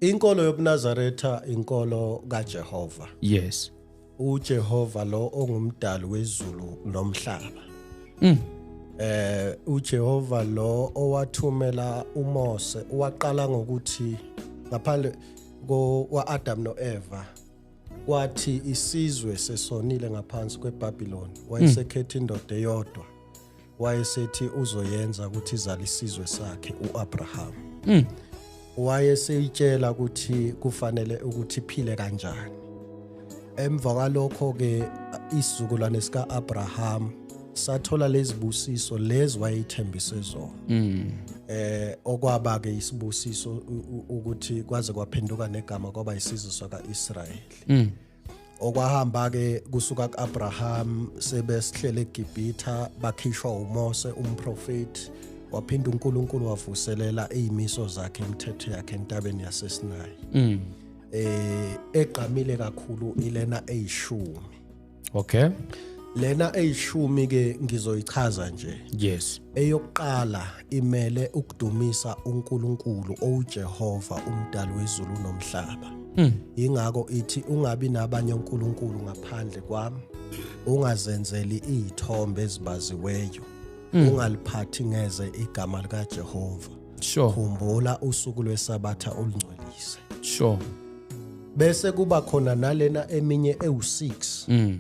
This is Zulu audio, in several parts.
Inkolo yobuNazaretha inkolo kaJehova. Yes. uJehova lo ongumdali wezulu nomhlaba mm. eh uJehova lo owathumela uMose waqala ngokuthi ngaphandle kwaAdam noEva kwathi isizwe sesonile ngaphansi kweBabiloni wayesekhetha indoda eyodwa wayesethi uzoyenza ukuthi izale isizwe sakhe uAbraham mm. wayeseyitshela ukuthi kufanele ukuthi phile kanjani emva kwalokho ke isizukulwane sika Abraham sathola lezibusiso lezi wayethembise zona mm. eh okwaba ke isibusiso ukuthi kwaze kwaphenduka negama kwaba isizwe saka Israel mm. okwahamba ke kusuka kuAbraham sebesihlele eGibhitha bakhishwa uMose umprofeti waphinda uNkulunkulu wavuselela izimiso zakhe imithetho yakhe entabeni yaseSinayi mm. eh egqamile kakhulu ilena eyishumi okay lena eyishumi ke ngizoyichaza nje yes eyokuqala imele ukudumisa uNkulunkulu owuJehova umdali wezulu nomhlaba hmm. ingakho ithi ungabi nabanye uNkulunkulu ngaphandle kwami ungazenzeli izithombe ezibaziweyo hmm. ungaliphathi ngeze igama likaJehova sure khumbula usuku lwesabatha olungcwelise sure bese kuba khona nalena eminye ewu6 mm.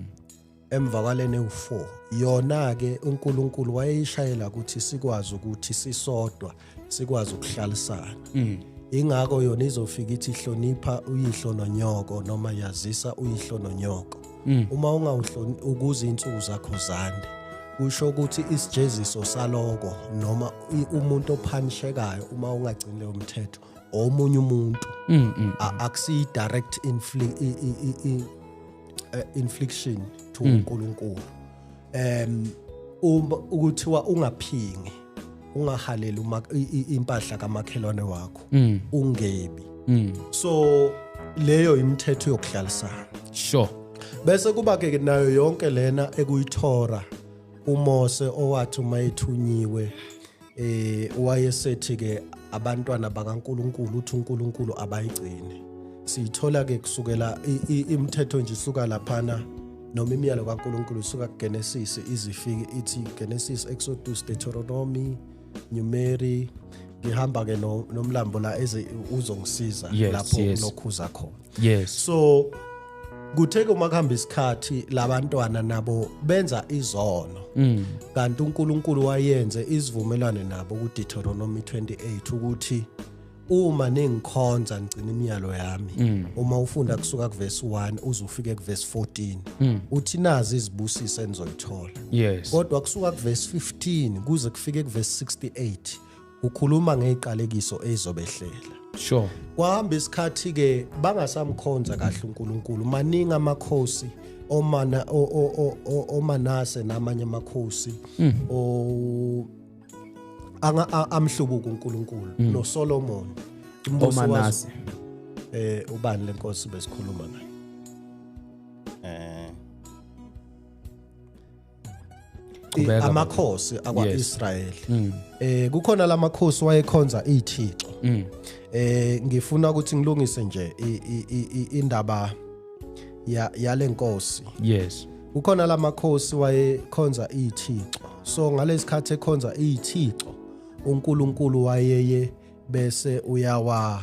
emvakaleni ewu-4 yona-ke unkulunkulu wayeyishayela ukuthi sikwazi ukuthi sisodwa sikwazi ukuhlalisana mm. ingakho yona izofika ithi hlonipha uyihlo nonyoko noma yazisa uyihlo nonyoko mm. uma ungawuhloni ukuze insuku zakho zande kusho ukuthi isijeziso saloko noma umuntu ophanishekayo uma ungagcini leyo mthetho omunye umuntu mm, mm, akusiyi direct eh, infliction to uNkulunkulu em uma ukuthiwa ungaphingi ungahaleli uma impahla kamakhelwane wakho mm. ungebi mm. so leyo imithetho yokuhlalisana sure bese kuba ke nayo yonke lena ekuyithora uMose owathi uma ethunyiwe eh wayesethi ke abantwana bakaNkuluNkulu uthi uNkuluNkulu abayigcini siyithola ke kusukela imithetho nje isuka laphana noma imiyalo kaNkuluNkulu isuka kuGenesis izifike ithi Genesis Exodus Deuteronomy Numeri ngihamba ke nomlambo la eze uzongisiza lapho kunokhuza khona yes so kuthe uma kuhamba isikhathi labantwana nabo benza izono mm. kanti uNkulunkulu wayenze isivumelwano nabo kuDeuteronomy 28 ukuthi uma ningikhonza ngicina imiyalo yami mm. uma ufunda kusuka kuverse 1 uze ufike kuverse 14 mm. uthi nazi izibusiso enizoyithola yes kodwa kusuka kuverse 15 kuze kufike kuverse 68 ukhuluma ngeziqalekiso ezobehlela sure kwahamba isikhathi ke bangasamkhonza kahle uNkulunkulu maningi amakhosi omana omanase namanye amakhosi hmm. o anga amhlubuka uNkulunkulu hmm. no Solomon umbuso waso eh ubani lenkosi besikhuluma naye eh Qhubeka, amakhosi akwa-israyeli mm. eh kukhona la makhosi wayekhonza iy'thixo mm. eh ngifuna ukuthi ngilungise nje i- i- i- i- indaba ya- yale nkosi yes kukhona la makhosi wayekhonza iy'thixo so ngalesi khathi ekhonza iy'thixo unkulunkulu wayeye bese uyawa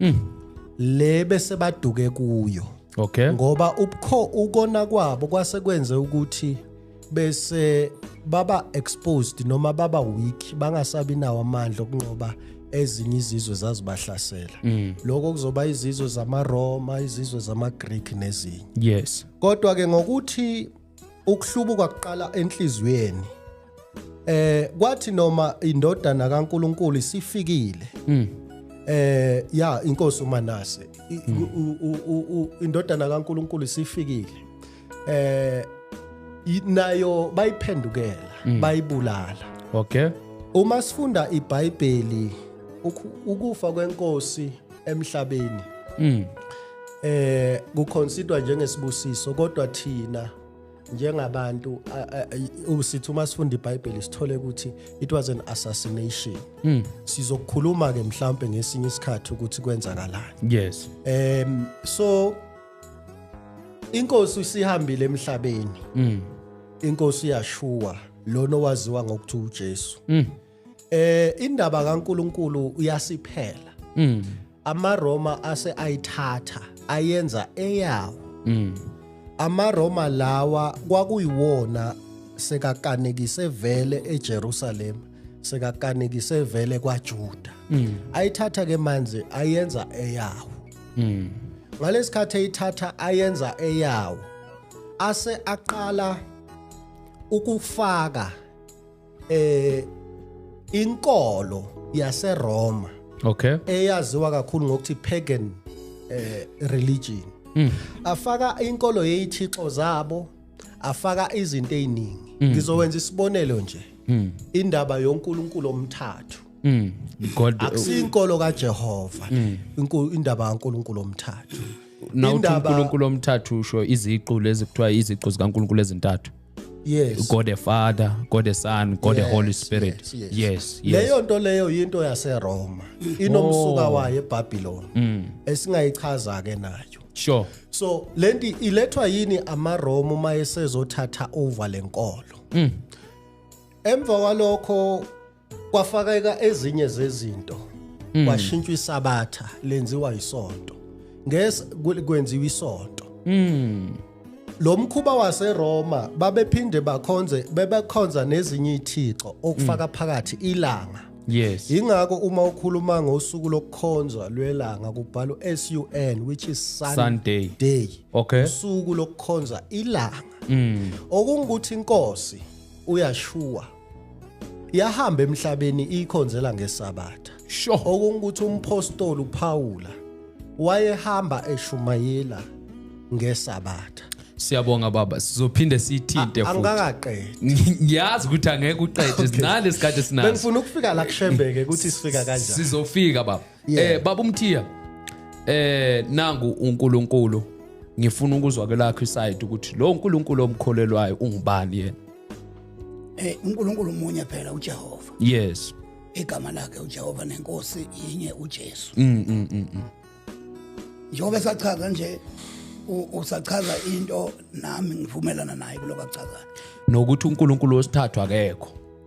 mm. le bese baduke kuyo okay ngoba ubukho ukona kwabo kwase kwenze ukuthi bese baba exposed noma baba weak bangasabi nawo amandla okunqoba ezinye izizwe zazibahlasela mm. lokho kuzoba izizwe zamaRoma izizwe zamaGreek nezinye yes kodwa ke ngokuthi Ukuhlubuka kuqala enhliziyweni. Eh kwathi noma indodana kaNkuluNkulu isifikile. Mm. Eh ya inkosi uManase mm. indodana kaNkuluNkulu isifikile. Eh nayo bayiphendukela mm. bayibulala. Okay. Uma sifunda iBhayibheli ukufa kwenkosi emhlabeni mm. eh kuconsider njengesibusiso kodwa thina njengabantu usithi uma sifunda iBhayibheli sithole ukuthi it was an assassination mm. sizokukhuluma ke mhlambe ngesinye isikhathi ukuthi kwenzakalani yes um so inkosi isihambile emhlabeni mm. inkosi yashuwa lona owaziwa ngokuthi uJesu mm. eh indaba kaNkuluNkulu uyasiphela mm. amaRoma ase ayithatha ayenza eyawo mm. amaRoma lawa kwakuyiwona sekakanekise vele eJerusalem sekakanekise vele kwaJuda mm. ayithatha ke manje ayenza eyawo mm. ngalesikhathi eyithatha ayenza eyawo ase aqala ukufaka eh inkolo yaseRoma okay eyaziwa kakhulu ngokuthi pagan eh religion mm. afaka inkolo yezithixo zabo afaka izinto eziningi mm. ngizowenza isibonelo nje mm. indaba yoNkulunkulu omthathu mm. God uh, akusinkolo kaJehova mm. indaba kaNkulunkulu omthathu na uNkulunkulu omthathu usho iziqu lezi kuthiwa iziqu zikaNkulunkulu ezintathu yes god the father god the son god yes, the holy spirit yes, yes. yes, yes. leyo nto leyo yinto yaseroma inomsuka oh. wayo ebabylon mm. esingayichaza ke nayo sure so lenti ilethwa yini amaroma uma esezothatha over lenkolo mm. emva kwalokho kwafakeka ezinye zezinto mm. kwashintshwa isabatha lenziwa isonto ngese kwenziwa isonto mm. lo mkhuba waseRoma babephinde bakhonze bebekhonza nezinye ithixo okufaka mm. phakathi ilanga yes ingakho uma ukhuluma ngosuku lokukhonza lwelanga kubhalwa SUN which is Sun Sunday day okay usuku lokukhonza ilanga mm. okungukuthi inkosi uyashuwa yahamba emhlabeni ikhonzela ngesabatha sure okungukuthi umpostoli uPawula wayehamba eshumayela ngesabatha siyabonga baba sizophinde siyithinte futhi angikaqedi ngiyazi ukuthi angeke uqede sinale sikade sinazo bengifuna ukufika la kushembeke ukuthi sifika kanjani sizofika baba Yeah. Eh baba umthiya eh nangu uNkulunkulu ngifuna ukuzwa kwelakho iside ukuthi lo uNkulunkulu omkholelwayo ungubani yena Eh uNkulunkulu umunye phela uJehova. yes Igama lakhe uJehova nenkosi yinye uJesu. mm mm mm mm. Njengoba esachaza nje u- usachaza into nami ngivumelana naye kuloko akuchazayo. nokuthi uNkulunkulu wesithathu akekho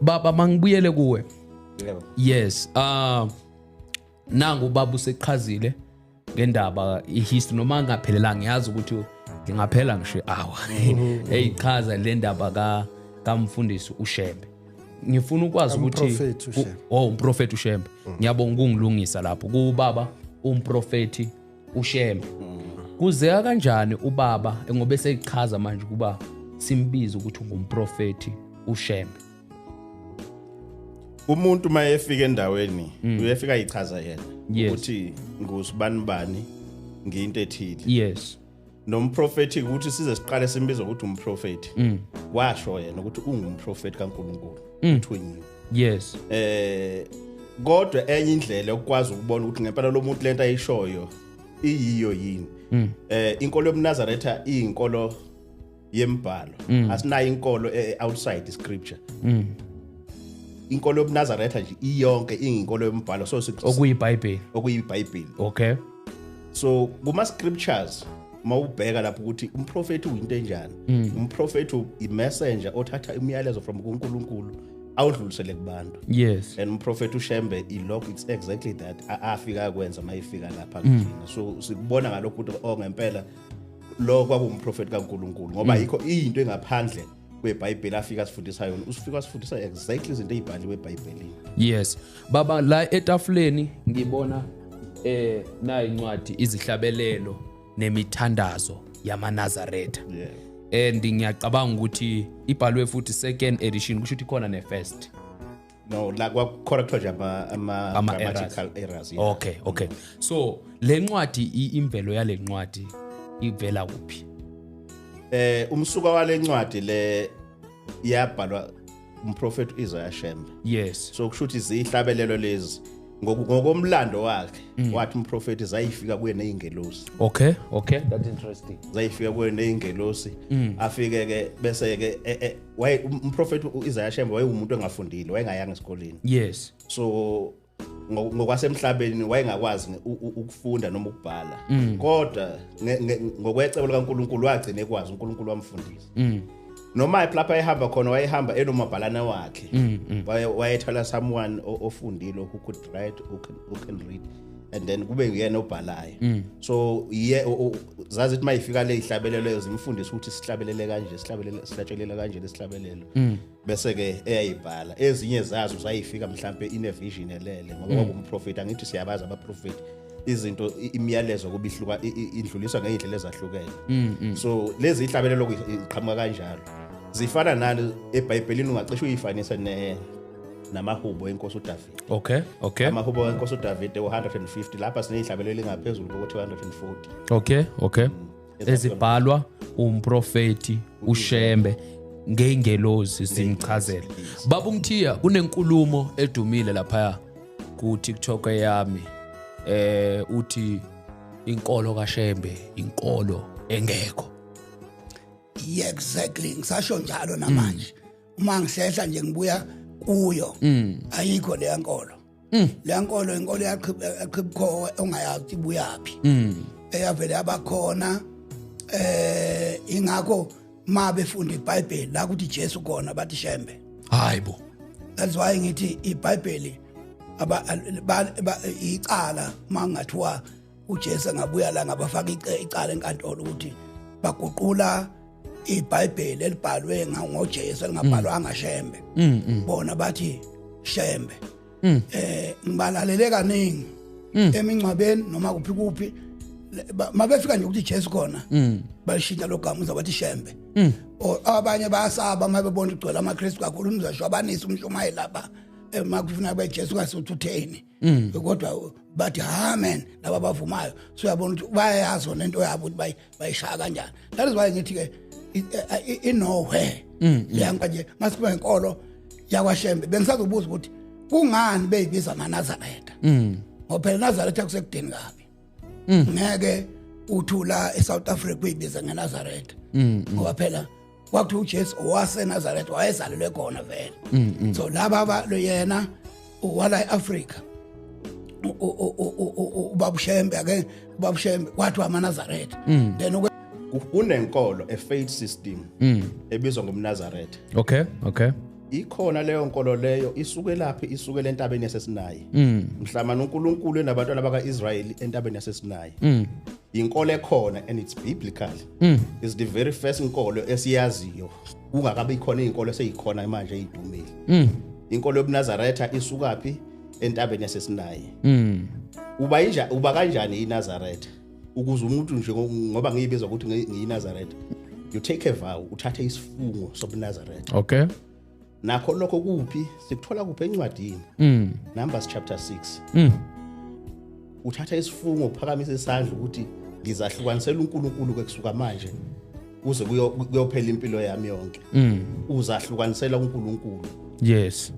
baba mangibuyele kuwe yebo yes uh nangu baba useqhazile ngendaba ihistory noma angaphelelanga ngiyazi ukuthi ngingaphela ngisho awa hey chaza le ndaba ka kamfundisi uShembe ngifuna ukwazi ukuthi Umprofethi uShembe. oh umprofeti uShembe ngiyabonga ukungilungisa lapho kubaba umprofeti ushembe kuzeka kanjani ubaba ngoba eseyichaza manje ukuba simbize ukuthi ungumprofethi ushembe umuntu uma efika endaweni mm. uyefika yichaza yena ukuthi ngusibani bani ngiyinto ethile yes nomprofethi ukuthi size siqale simbiza ukuthi umprofethi mm. washo yena ukuthi ungumprofethi kaNkuluNkulu mm. between you yes eh kodwa enye indlela yokwazi ukubona ukuthi ngempela lo muntu lento ayishoyo iyiyo yini mm. eh inkolo yomnazaretha iyinkolo yembhalo mm. asinayo inkolo e, e, outside the scripture mm. inkolo yobunazaretha nje iyonke inginkolo yombhalo so okuyibhayibheli okuyibhayibheli okay so kuma scriptures mawubheka lapho ukuthi umprofeti uyinto enjani mm. umprofeti imessenger othatha imiyalezo from kuNkulunkulu awudlulisele kubantu yes and umprofeti ushembe ilokho it's exactly that afika kwenza mayifika lapha mm. kithina so sikubona ngalokho ukuthi ongempela oh, lo kwakuwumprofeti kaNkuluNkulu ngoba mm. yikho into engaphandle kwebhayibheli afika asifundisa yona usifika asifundisa exactly izinto ey'bhaliwe ebhayibhelini yes baba la etafuleni ngibona eh nayi incwadi izihlabelelo nemithandazo yamanazaretha yeah. and ngiyacabanga ukuthi ibhalwe futhi second edition kusho ukuthi khona ne-first no la kwakukhona kuthiwa nje ama ama Ama grammatical errors yeah. okay okay so le ncwadi i- imvelo yale ncwadi ivela kuphi eh umsuka wale ncwadi le yabhalwa umprofeti uIsaiah Shembe yes so kusho ukuthi ziyihlabelelo lezi Ngoku- ngokomlando wakhe Mm. wathi umprofeti zayifika kuye nezingelosi okay okay that interesting zayifika kuye nezingelosi Mm. afike ke bese ke e- e- waye um, umprofeti uIsaiah Shembe wayewumuntu engafundile wayengayanga esikoleni yes so ngokwasemhlabeni wayengakwazi ukufunda noma ukubhala mm. kodwa ngokwecebo likaNkuluNkulu wagcina ekwazi uNkuluNkulu wamfundisa mm. noma lapha ehamba khona wayehamba enomabhalana wakhe mm, wayethola someone ofundile who could write who can, who can read and then kube uyena obhalayo mm. so ye zazi ukuthi mayifika le ihlabelelo leyo zimfundisa ukuthi sihlabelele kanje sihlabelele sihlatshelela kanje lesihlabelelo mm. bese ke eyayibhala ezinye zazo zayifika mhlambe ine vision elele ngoba mm. kumprofeti angithi siyabaza abaprofeti izinto imiyalezo kubihluka indluliswa ngeindlela ezahlukene mm, mm. so lezi ihlabelelo iqhamuka kanjalo zifana nalo eBhayibhelini ungacishe uyifanise ne namahubo enkosi uDavide okay okay amahubo wenkosi udavide u-150 lapha sineyihlabelo elingaphezulu koku-240 okay okay mm. ezibhalwa umprofeti ushembe ngeyingelozi zimchazela baba umthiya kunenkulumo edumile laphaya ku-tiktok yami eh uthi inkolo kashembe inkolo engekho yeah exactly ngisasho njalo namanje mm. uma ngihlehla nje ngibuya kuyo mm. ayikho le yankolo mm. le yankolo inkolo yaqhibukhowe ongayazi ukuthi ibuyaphi mm. eyavele yabakhona eh ingakho ma befunda ibhayibheli la kuthi jesu khona bathi shembe hayi bo that's why ngithi ibhayibheli icala uma kungathiwa uJesu angabuya la ngabafaka icala enkantolo ukuthi baguqula iBhayibheli elibhalwe ngoJesu elingabhalwanga mm. Shembe mm, mm. bona bathi Shembe eh ngibalalele kaningi emingcwabeni noma kuphi kuphi mabefika nje ukuthi Jesu khona balishintsha logama uza bathi Shembe abanye bayasaba mabebona igcwele amaKristu kakhulu umzasho abanisa umshumayeli lapha eh, makufuna beJesu kasuthutheni mm. kodwa bathi ha man laba bavumayo so uyabona ukuthi bayayazi ona into yabo ukuthi bayishaya kanjani that is why ngithi-ke inowhere mm, mm. yanka nje ngasiba inkolo yakwashembe bengisazobuza ukuthi kungani beyibiza nganazaretha mm. ngoba phela nazaretha kusekudeni kabi ngeke uthula e-south africa uyibiza ngenazaretha ngoba phela kwakuthiwa uJesu owaseNazareth wayezalelwe khona vele mm, mm. so laba abalo yena wala eAfrica ubabushembe ake ubabushembe wathi wamaNazareth mm. then unenkolo a faith system ebizwa ngomNazareth okay okay ikhona leyo nkolo leyo isuke laphi isuke lentabeni yasesinayi mm. mhlamana uNkulunkulu enabantwana bakaIsrayeli entabeni yasesinayi mm. inkolo ekhona and it's biblical mm. is the very first inkolo esiyaziyo kungakabi khona izinkolo eseyikhona manje ezidumile mm. inkolo yobunazaretha isukaphi entabeni yasesinayi mm. uba inja uba kanjani inazaretha ukuze umuntu nje ngoba ngiyibizwa ukuthi ngiyinazaretha you take a vow uthathe isifungo sobunazaretha okay nakho lokho kuphi sikuthola kuphi encwadini mm. numbers chapter 6 mm. uthatha isifungo uphakamisa isandla ukuthi ngizahlukanisela uNkulunkulu kwekusuka manje kuze kuyophela impilo yami yonke mm. uzahlukanisela uNkulunkulu yes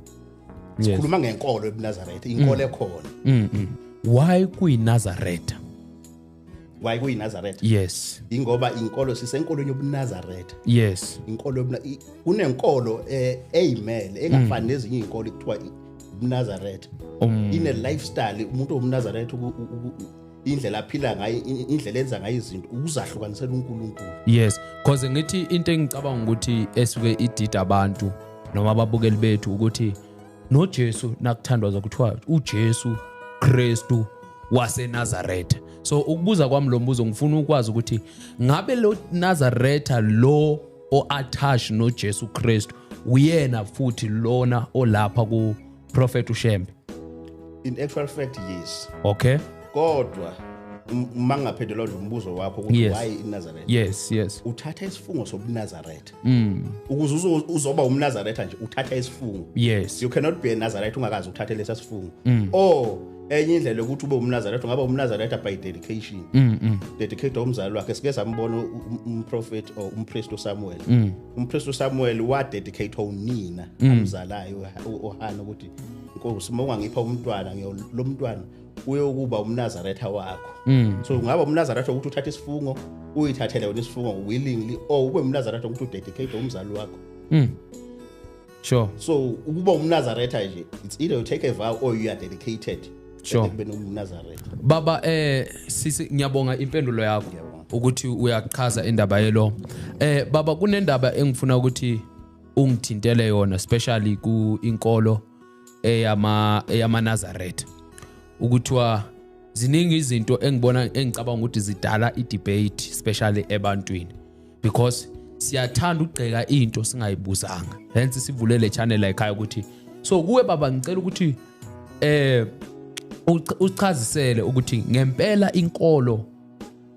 sikhuluma ngenkolo ebuNazaretha inkolo mm. ekhona mm, mm. why kuyiNazaretha waye kuyiNazaretha yes ingoba inkolo sisenkolweni yobuNazaretha yes inkolo yobuna kunenkolo eh, eyimele engafani mm. nezinye izinkolo kuthiwa ubuNazaretha um. ine lifestyle umuntu wobuNazaretha indlela aphila ngayo indlela enza ngayo izinto ukuzahlukanisela uNkulunkulu yes because ngithi into engicabanga ukuthi esuke idida abantu noma ababukeli bethu ukuthi noJesu nakuthandwaza kuthiwa uJesu Kristu waseNazaretha so ukubuza kwami lo mbuzo ngifuna ukwazi ukuthi ngabe lo Nazaretha lo oattach noJesu Kristu uyena futhi lona olapha ku prophet uShembe in actual fact yes okay kodwa uma ngingaphendula umbuzo wakho ukuthi yes. why inazaretha yes yes uthatha isifungo sobunazaretha Mm. Ukuze uzoba umnazaretha nje uthatha isifungo. Yes. You cannot be a Nazareth ungakazi ukuthatha lesa sifungo. Mm. Oh enye indlela yokuthi ube umnazaretha ngaba umnazaretha by dedication. Mm. mm. Dedicate umzali wakhe sike sambona um, umprofeti or umpriest Samuel. Mm. Umpriest Samuel wa dedicate unina mm. umzalayo ohana ukuthi Nkosi uma ungangipha umntwana ngiyolomntwana uyokuba umnazaretha wakho mm. so ungaba umnazaretha ukuthi uthathe isifungo uyithathele wena isifungo willingly or ube umnazaretha ukuthi udedicate umzali wakho mm. sure so ukuba umnazaretha nje it's either you take a vow or you are dedicated sure ekubeni umnazaretha baba eh sisi ngiyabonga impendulo yakho ukuthi uyachaza indaba yelo eh baba kunendaba engifuna ukuthi ungithintele yona especially ku inkolo eyama eyamaNazaretha ukuthiwa ziningi izinto engibona engicabanga ukuthi zidala i-debate especially ebantwini because siyathanda ukugceka into singayibuzanga hence sivule le channel ekhaya ukuthi so kuwe baba ngicela ukuthi eh uchazisele ukuthi ngempela inkolo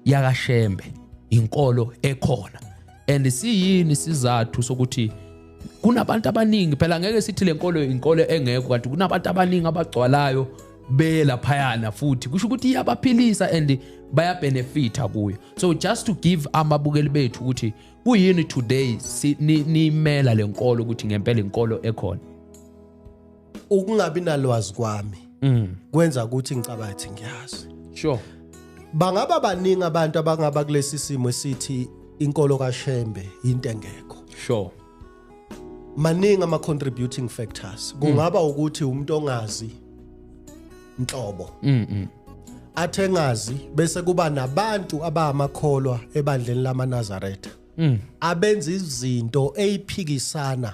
yakashembe inkolo ekhona and siyini sizathu sokuthi kunabantu abaningi phela ngeke sithi lenkolo inkolo engekho kanti kunabantu abaningi abagcwalayo belaphayana futhi kusho ukuthi iyabaphilisa and bayabenefitha kuyo so just to give amabukeli bethu ukuthi kuyini today nimela lenkolo ukuthi ngempela inkolo ekhona ukungabi nalwazi kwami mm. kwenza ukuthi ngicabathi ngiyazi sure bangaba baningi abantu abangaba kulesi simo esithi inkolo kaShembe into engekho sure maningi ama contributing factors mm. kungaba mm. ukuthi umuntu ongazi inhlobo mm, mm. athe ngazi bese kuba nabantu abamakholwa ebandleni lamaNazaretha mm. abenza izinto eziphikisana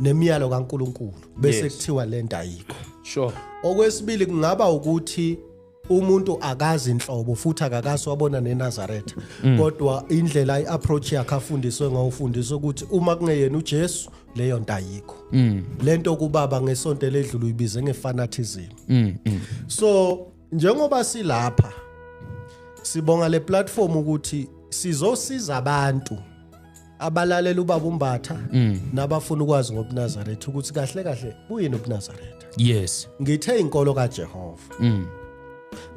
nemiyalo kaNkuluNkulu bese Yes. kuthiwa lento ayikho sure okwesibili kungaba ukuthi umuntu akazi inhlobo futhi akakaso wabona neNazaretha Mm. kodwa indlela iapproach yakhe afundiswe ngayo ufundiswe ukuthi uma kungeyena uJesu leyo nto ayikho Mm. lento kubaba ngesonto ledlule uyibize ngefanatism Mm, mm. so njengoba silapha sibonga le platform ukuthi sizosiza abantu abalalela ubaba umbatha mm. nabafuna ukwazi ngobunazaretha ukuthi kahle kahle kuyini ubunazaretha yes ngithe inkolo kajehova mm.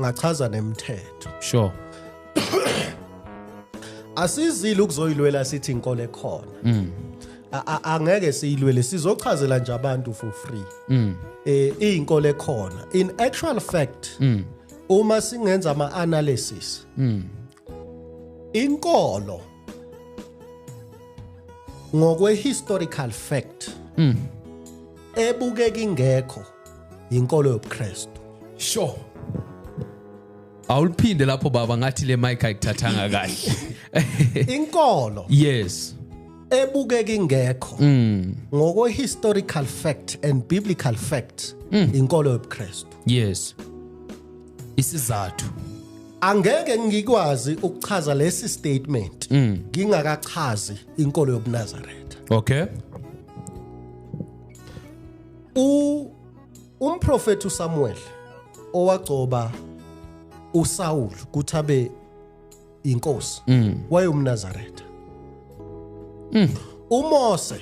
ngachaza nemithetho sure asizile ukuzoyilwela sithi inkolo ekhona mm. angeke siyilwele sizochazela nje abantu for free mm. eh iyinkolo ekhona in actual fact mm. uma singenza ama analysis mm. inkolo ngokwe historical fact mm. ebukeka ingekho yinkolo yobuKristu sure awuliphinde lapho baba ngathi le mic ayikuthathanga kahle inkolo yes ebukeka ingekho mm. ngokwe historical fact and biblical fact mm. inkolo yobuKristu yes isizathu angeke ngikwazi ukuchaza lesi statement mm. ngingakachazi inkolo yobunazaretha okay u umprofeti uSamuel owagcoba uSaul ukuthi abe inkosi mm. wayomnazaretha mm. uMose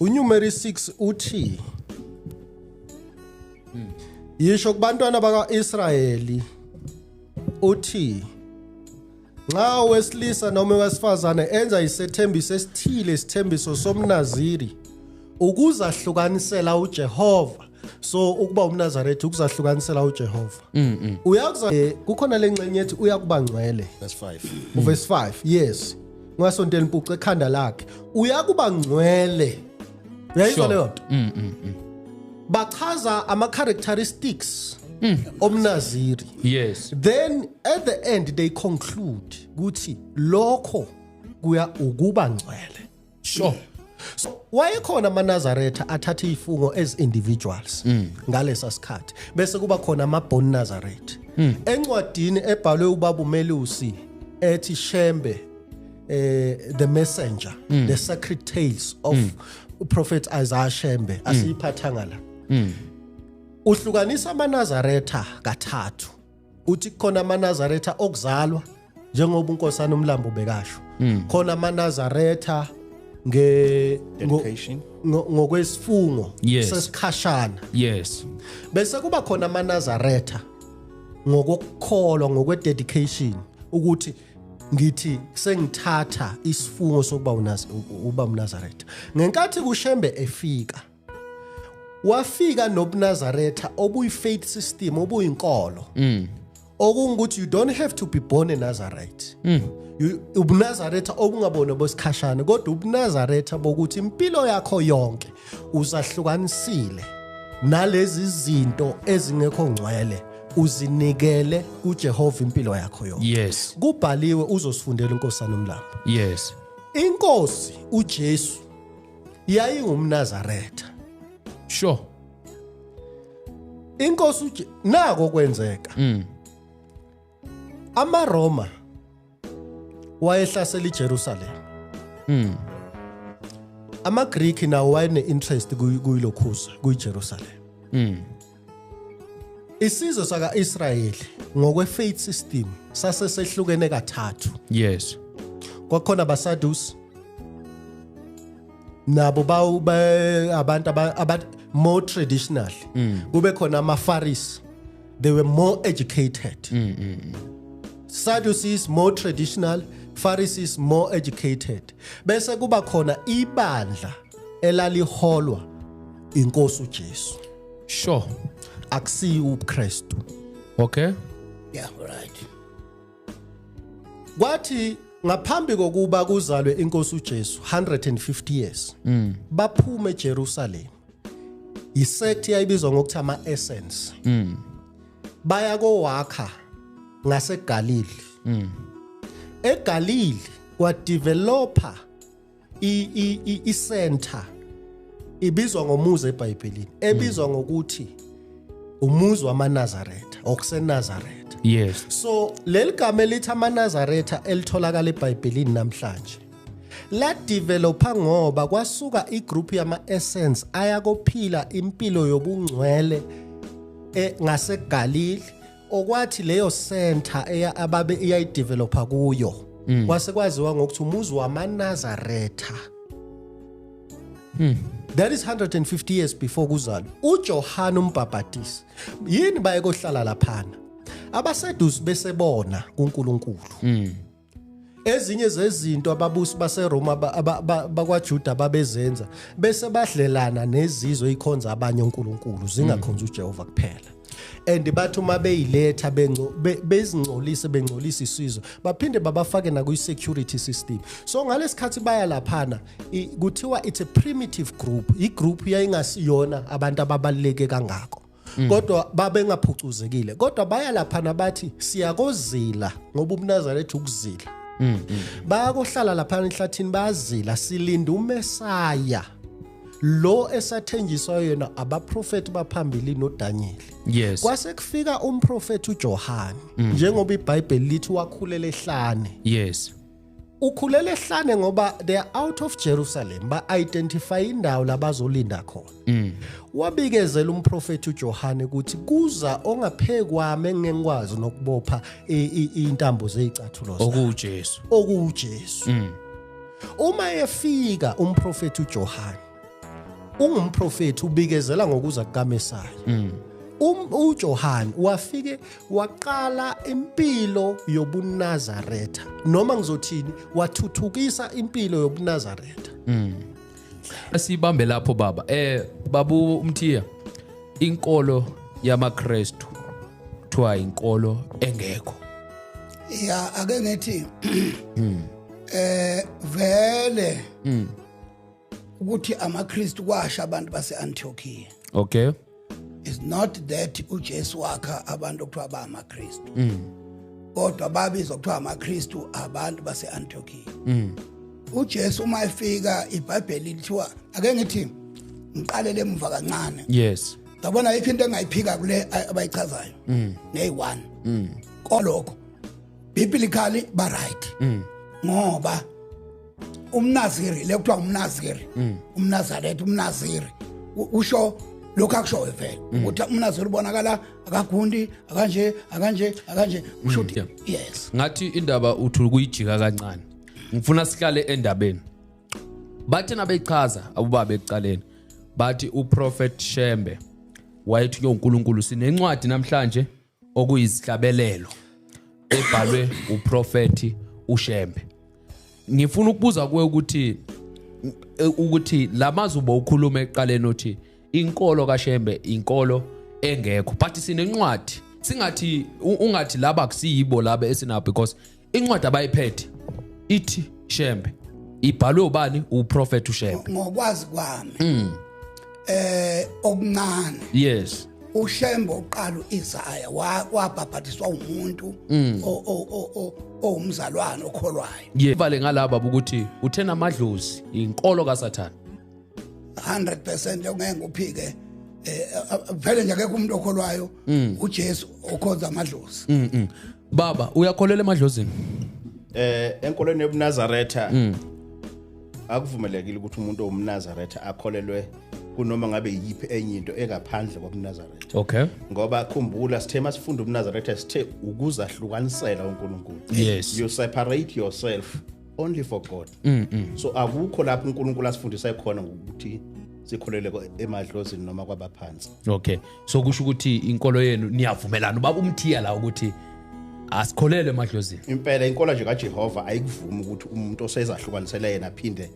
uNumeri 6 uthi Yisho kubantwana bakaIsrayeli uthi nxa wesilisa noma wesifazane enza isethembiso esithile isithembiso somnaziri ukuzahlukanisela uJehova so ukuba umnazaretha ukuzahlukanisela ujehova mm, mm. uyakuza eh, kukhona le nxenye ethi uyakuba ngcwele uvesi 5 yes ngasonto elimpucu ekhanda lakhe uyakuba ngcwele uyayizwa leyo nto mm, bachaza ama-characteristics omnaziri yes then at the end they conclude ukuthi lokho kuya ukuba ngcwele sure so wayekhona amanazaretha athatha izifungo as individuals mm. ngalesa sikhathi bese kuba khona ama born nazareth mm. encwadini ebhalwe ubaba umelusi ethi shembe eh the messenger mm. the sacred tales of mm. prophet Isaiah Shembe asiyiphathanga la uhlukanisa amanazaretha kathathu uthi khona amanazaretha okuzalwa njengoba unkosana umlambo ubekasho hmm. khona amanazaretha nge ngokwesifungo sesikhashana yes bese kuba khona amanazaretha ngokukholwa ngokwededication ukuthi ngithi sengithatha isifungo sokuba uba unazaretha ngenkathi kushembe efika wafika nobunazaretha obuyi-faith system obuyinkolo mm. okungukuthi you don't have to be born enazareth mm. ubunazaretha obungabona bosikhashane kodwa ubunazaretha bokuthi impilo yakho yonke uzahlukanisile nalezi zinto ezingekho ngcwele uzinikele kuJehova impilo yakho yonke yes kubhaliwe uzosifundela inkosana umlambo yes inkosi uJesu yayingumnazaretha sure inkosi uJe nako kwenzeka mm. amaRoma wayehlasela iJerusalem mm. amaGreek nawo wayene interest kuyilokhuza kuyiJerusalem mm. Isizwe sakaIsrayeli ngokwefaith system sase sehlukene kathathu. Yes. Kwakhona abaSadus nabo bawu abantu aba more traditional. Mm. Kube khona amaFaris. They were more educated. Mm, mm, mm. Sadducees more traditional, Pharisees more educated. Bese kuba khona ibandla elaliholwa inkosi uJesu. sure akusiyi ubuKristu okay yeah right kwathi ngaphambi kokuba kuzalwe inkosi uJesu 150 years mm. baphume eJerusalem isect yayibizwa ngokuthi ama essence mm. baya kowakha ngaseGalili mm. eGalili kwadeveloper i center ibizwa ngomuzi eBhayibhelini ebizwa mm. ngokuthi umuzi wamaNazaretha okuseNazaretha yes so leli gama elithi amaNazaretha elitholakala eBhayibhelini namhlanje la developer ngoba kwasuka igroup yama essence ayakophila impilo yobungcwele eh, ngaseGalili okwathi leyo center eya ababe iyayidevelopa kuyo mm. kwase kwaziwa ngokuthi umuzi wamanazaretha mm. that is 150 years before kuzalwa ujohane umbhabhatisi yini baye kohlala laphana abaseduze besebona kunkulunkulu mm. ezinye zezinto ababusi baseRoma bakwaJuda babezenza bese badlelana nezizwe ikhonza abanye onkulunkulu zingakhonza mm. uJehova kuphela and bathi uma beyiletha bezingcolise bengcolisa isizwe baphinde babafake nakwi-security system so ngalesikhathi baya laphana kuthiwa it's a primitive group igroup yayingasiyona abantu ababaluleke kangako Mm. kodwa babengaphucuzekile kodwa baya lapha nabathi siyakozila ngoba umnazana ethi ukuzila mm, mm. bayakohlala lapha enhlathini bayazila silinda umesaya lo esathenjiswa yena abaprofeti baphambili noDaniel yes kwase kufika umprofeti uJohane njengoba iBhayibheli lithi wakhulela ehlane yes ukhulele ehlane ngoba they are out of Jerusalem ba identify indawo labazolinda khona mm. wabikezela umprofeti uJohane ukuthi kuza ongaphekwami engengikwazi nokubopha intambo zezicathulo zakhe okuJesu okuJesu mm. uma efika umprofeti uJohane ungumprofethi ubikezela ngokuza kukaMesiya mm. um, uJohane wafike waqala impilo yobunazaretha noma ngizothini wathuthukisa impilo yobunazaretha mm. asibambe lapho baba eh babu umthiya inkolo yamaKristu kuthiwa inkolo engekho ya ake ngithi mm. eh vele mm. ukuthi amaKristu kwasha abantu base-Antiochia okay is not that uJesu wakha abantu okuthiwa ba amaKristu mm. kodwa babizwa kuthiwa amaKristu abantu base-Antiochia mm. uJesu uma efika iBhayibheli lithiwa ake ngithi ngiqalele emuva kancane yes ngabona ayikho into engayiphika kule abayichazayo mm. neyi-one mm. kolokho biblically ba-right mm. ngoba umnaziri le kuthiwa umnaziri mm. umnazaretha umnaziri usho lokho akushoyo vele mm. ukuthi umnaziri ubonakala akagundi akanje akanje akanje mm, usho ukuthi yes ngathi indaba uthi ukuyijika kancane ngifuna sihlale endabeni bathe nabechaza abubaba ekuqaleni bathi uprofet Shembe wayethi uNkulunkulu sinencwadi namhlanje okuyizihlabelelo ebhalwe uprofeti uShembe ngifuna ukubuza kuwe ukuthi ukuthi lamazwi bowukhuluma eqaleni othi inkolo kaShembe inkolo engekho but sinencwadi singathi ungathi laba kusiyibo laba esinabo because incwadi abayiphethe ithi shembe ibhalwe ubani uprofet ushembe ngokwazi kwami mm. eh okuncane yes ushembe uqala uIsaya wabhabhatiswa umuntu mm. owumzalwane okholwayo yevale ngalaba ukuthi uthena amadlozi inkolo kaSathane 100% ongeke ngiphike eh vele nje akekho umuntu okholwayo mm. uJesu okhonza amadlozi mm, mm. baba uyakholelwa emadlozini eh enkolweni yobunazaretha akuvumelekile ukuthi umuntu owumnazaretha akholelwe kunoma ngabe yiphi enye into engaphandle kobunazaretha okay ngoba khumbula sithe masifunda ubunazaretha sithe ukuzahlukanisela uNkulunkulu yes you separate yourself only for god mm -mm. so akukho lapho unkulunkulu asifundisa khona ngokuthi sikholele emadlozini noma kwabaphansi okay so kusho ukuthi inkolo yenu niyavumelana ubaba umthiya la ukuthi asikholele emadlozini impela inkolo nje kajehova ayikuvumi ukuthi umuntu osezahlukanisele yena aphinde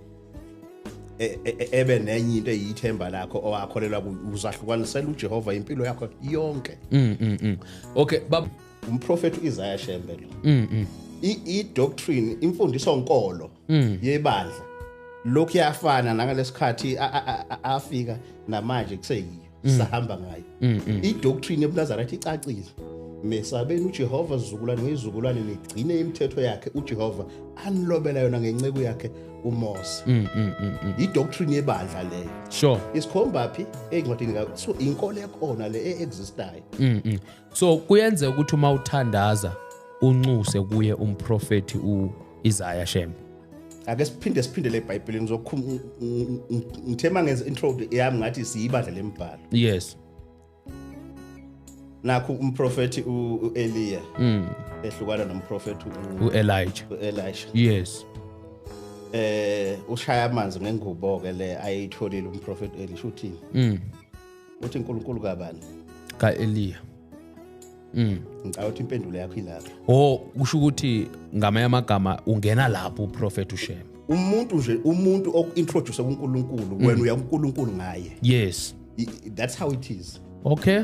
e, e, e, ebe nenye into eyithemba lakho owakholelwa uzahlukanisela ujehova impilo yakho yonke mm, mm, mm. okay baba umprofethi uIsaiah Shembe lo mm, mm. i doctrine imfundiso nkolo mm. yebandla lokhu yafana nangalesikhathi afika namanje kuseyiyo sahamba ngayo i doctrine ebuNazaretha icacile mesabeni uJehova zizukulwane ngezizukulwane nigcine imithetho yakhe uJehova anilobela yona ngenceku yakhe uMose mm, mm, mm, i doctrine yebandla leyo sure isikhomba phi ezincwadini ka so inkolo ekhona le e existayo so kuyenzeka ukuthi uma uthandaza unxuse kuye umprofethi u Isaiah Shembe ake siphinde siphindele eBhayibhelini zokhuluma ngithema ngenza intro yami ngathi siyibandla lembhalo yes nakho umprofethi uEliya mm. ehlukana nomprofethi uElijah uElisha yes eh ushaya amanzi ngengubo ke le ayitholile umprofethi Elisha uthini mm. uthi uNkulunkulu kabani kaEliya Mm. Ngicabanga ukuthi impendulo yakho ilapho. Oh, kusho ukuthi ngamanye amagama ungena lapho uProphet uShem. Umuntu nje umuntu okintroduce kuNkulunkulu, wena mm. uya kuNkulunkulu ngaye. Yes. That's how it is. Okay.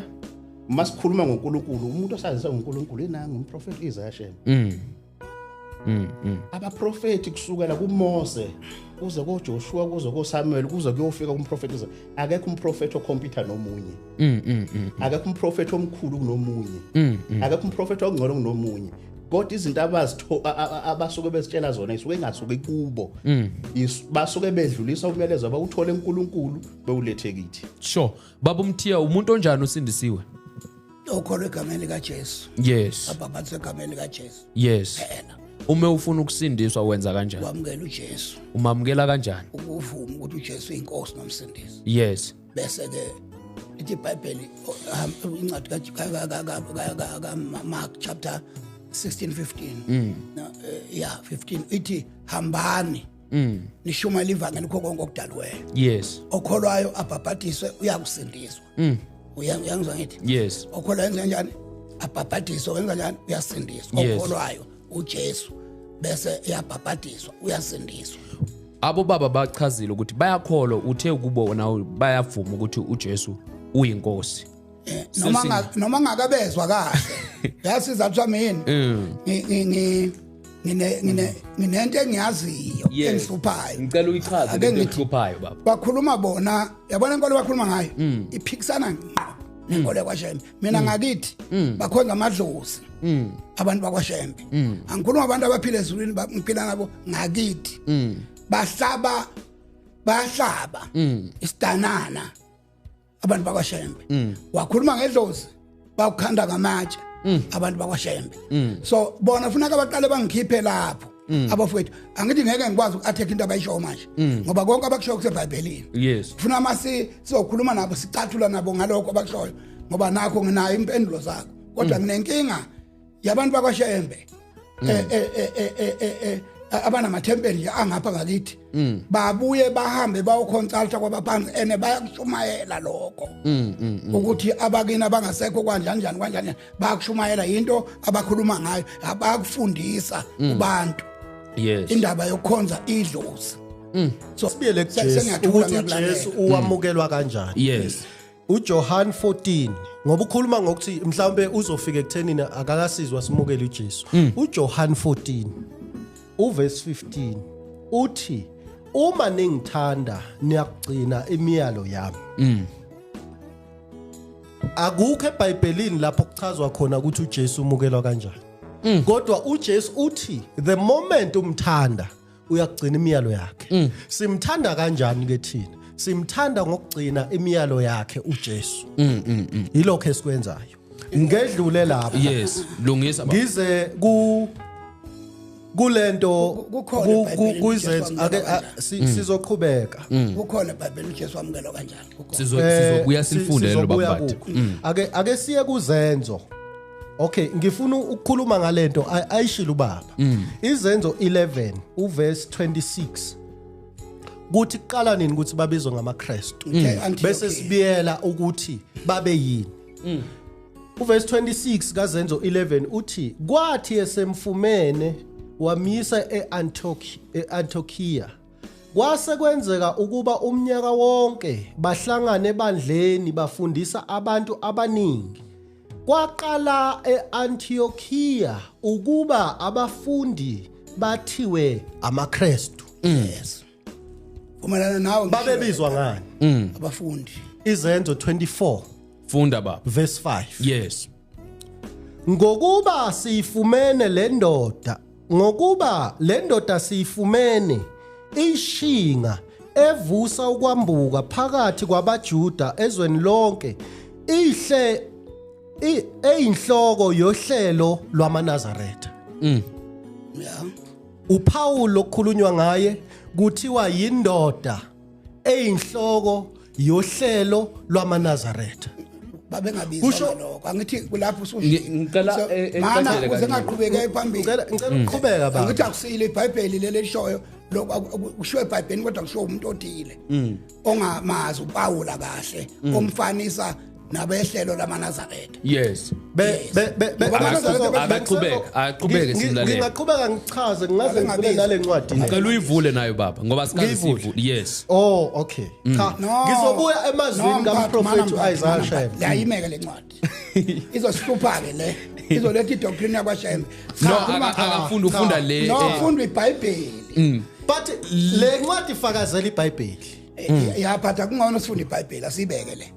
Uma sikhuluma ngoNkulunkulu, umuntu osazisa ngoNkulunkulu inanga umProphet Isaiah Shem. Mm. Mm, mm. abaprofethi kusukela kuMose kuze koJoshua kuze koSamuel kuze kuyofika umprofeti kuze akekho umprofeti okhompyutha nomunye mm, mm, mm, akekho umprofeti omkhulu kunomunye akekho umprofeti ongcono kunomunye kodwa izinto abazitho abasuke bezitshela zona isuke ingasuke kubo basuke bedlulisa umyalezo abawuthole enkulunkulu bewulethe kithi sure baba umthiya umuntu onjani usindisiwe okholwa egameni likaJesu yes abhabhathisa egameni likaJesu yes phela uma ufuna ukusindiswa wenza kanjani wamukela uJesu umamukela kanjani ukuvuma ukuthi uJesu inkosi nomsindisi yes bese ke ithi iBhayibheli incwadi kaMark chapter 16 15 yeah 15 ithi hambani Mm. Nishumayela ivangeli kho konke okudalweyo. Yes. Okholwayo abhabhadiswe uyakusindiswa. mm. uyangizwa ngithi yes okholwa yenza kanjani abhabhadiswa wenza kanjani uyasindiswa okholwayo uJesu bese eyabhabhadiswa uyasindiswa abo baba bachazile ukuthi bayakholwa uthe kubo nawe bayavuma ukuthi uJesu uyinkosi eh, noma noma ngakabezwa kahle yasiza kuthiwa mina mm. ngi ngine ngine nginento engiyaziyo Yes. engihluphayo ngicela uyichaze Ake lento ngithi- ehluphayo baba bakhuluma bona yabona inkolo bakhuluma ngayo Mm. iphikisana ngqo nenkolo yakwashembe mina ngakithi Mm. bakhonza amadlozi abantu bakwashembe Mm. angikhuluma abantu abaphila ezulwini ba- ngiphila nabo ngakithi Mm. bahlaba bayahlaba Mm. isidanana abantu bakwaShembe mm. wakhuluma ngedlozi bawukhanda ngamatshe mm. abantu bakwaShembe mm. so bona funa kabaqale bangikhiphe lapho Mm. abafowethu angithi ngeke ngikwazi uku-attack into abayishoyo manje mm. ngoba konke abakushoyo kusebhayibhelini yes funa uma sizokhuluma nabo sicathula nabo ngalokho abakushoyo ngoba nakho nginayo impendulo zakho kodwa mm. nginenkinga yabantu bakwaShembe mm. eh, eh, eh, abanamathempeli nje angapha ngakithi mm. babuye bahambe bayoconsulta kwabaphansi ene bayakushumayela lokho mm, mm, mm. ukuthi abakini abangasekho kwanjani njani kwanjani bayakushumayela yinto abakhuluma ngayo abakufundisa mm. kubantu yes indaba yokukhonza idlozi mm. so sibiyele ukuthi Jesu uwamukelwa kanjani yes uJohan 14 ngoba ukhuluma ngokuthi mhlawumbe uzofika ekuthenini akakasizwa simukele uJesu mm. uJohan 14 uverse 15 uthi uma ningithanda niyakugcina imiyalo yami mm. akukho ebhayibhelini lapho kuchazwa khona ukuthi uJesu umukelwa kanjani mm. kodwa uJesu uthi the moment umthanda uyakugcina imiyalo yakhe mm. simthanda kanjani ke thina simthanda ngokugcina imiyalo yakhe uJesu mm, mm, mm. yilokho esikwenzayo ngedlule lapha yes lungisa baba ngize ku kulento kuyizenzo ake mm. sizoqhubeka mm. kukhona eBhayibhelini uJesu wamukela kanjani sizobuya eh, sifunde lo baba ake ake siye kuzenzo Okay ngifuna ukukhuluma ngalento ayishilo ubaba mm. izenzo 11 uverse 26 kuthi kuqala nini ukuthi babizwe ngamaKristu mm. bese sibiyela ukuthi babe yini mm. uverse 26 kazenzo 11 uthi kwathi esemfumene wamisa eAntiochi eAntiochia kwase kwenzeka ukuba umnyaka wonke bahlangane ebandleni bafundisa abantu abaningi Kwaqala eAntiochia ukuba abafundi bathiwe amaKristu. Yes. Kumelana nawe ngisho Babebizwa ngani? Mm. abafundi. Izenzo 24 Funda baba. verse 5. Yes. Ngokuba siyifumene le ndoda ngokuba le ndoda siyifumene ishinga evusa ukwambuka phakathi kwabaJuda ezweni lonke ihle eyinhloko yohlelo lwamaNazaretha mm yeah uPaul okhulunywa ngaye kuthiwa yindoda eyinhloko yohlelo lwamaNazaretha babengabiza Kusho- ngalokho angithi kulapho usushilo Ngi- ngicela, So, eh, eh, mana ngicacele ukuze kangcono. ngaqhubeke phambili ngicela ngicela Mm. uqhubeka baba angithi akusile ibhayibheli leli elishoyo lokhu aku- aku- kushiwo ebhayibhelini kodwa kushiwo umuntu othile ongamazi upawula kahle omfanisa nabehlelo lamanazaretha yes ngingaqhubeka ngichaze ngingaze ngivule nale ncwadi ngicela uyivule nayo baba ngoba sikazivule yes oh okay mm. cha ngizobuya emazwini kamprofethi uIsaiah Shembe layimeke le ncwadi izosihlupha ke le izoletha idoctrine yakwashembe no akafunda ufunda le no eh. ufunda ibhayibheli mm. but le ncwadi ifakazela ibhayibheli eh, yaphatha kungcono sifunde ibhayibheli asibeke le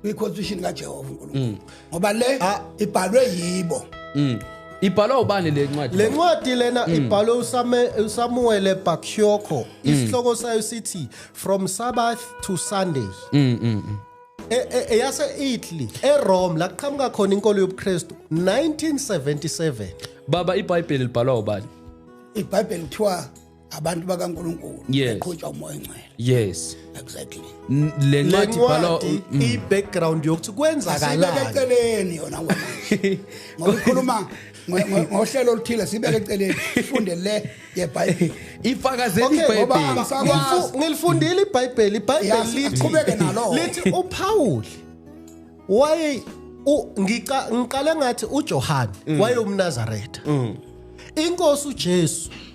kwi-constitution kajehova unkulunkulu mm. ngoba le ah. ibhalwe yibo mm. ibhalwa ubani le ncwadi le ncwadi lena mm. ibhalwe usamuwele bakyoko mm. isihloko sayo sithi from sabbath to sunday mm, mm, mm. eyase e, e, Italy eRome la kuqhamuka khona inkolo yobuKristu 1977 baba iBhayibheli libhalwa ubani iBhayibheli kuthiwa abantu bakaNkuluNkulu Yes. beqhutshwa umoya ongcwele yes exactly N- le ncwadi ibhalwa lencwadi Mm. i-background yokuthi asibeke kwenzakalani eceleni yona ngoba ngoba ikhuluma ngo- ngo- ngohlelo oluthile sibeke eceleni sifunde le yebhayibheli ifakazela Okay, ngoba ibhayibheli angisakwazi. Ngilifu- ngilifundile ibhayibheli ibhayibheli Ya, lithi- siqhubeke nalo. lithi upawuli waye u- ngica- ngiqale ngathi ujohane wayewumnazaretha inkosi ujesu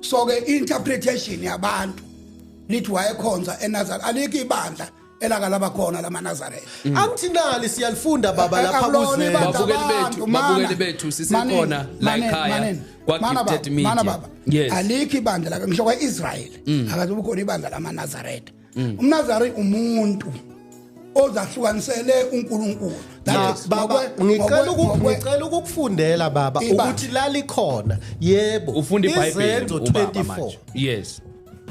so ke interpretation yabantu nithi wayekhonza eNazareth alikho ibandla elaka laba khona lama Nazareth mm. angithinali siyalifunda baba lapha kuzwe babukeli bethu babukeli bethu sisekhona la ekhaya kwa gifted media yes alikho ibandla la ngisho kwa Israel mm. akazobukhona ibandla lama Nazareth mm. umnazari umuntu ozahlukanisele uNkulunkulu baba ngicela ukungicela ukukufundela baba ukuthi lali khona yebo ufunda iBhayibheli ubaba manje yes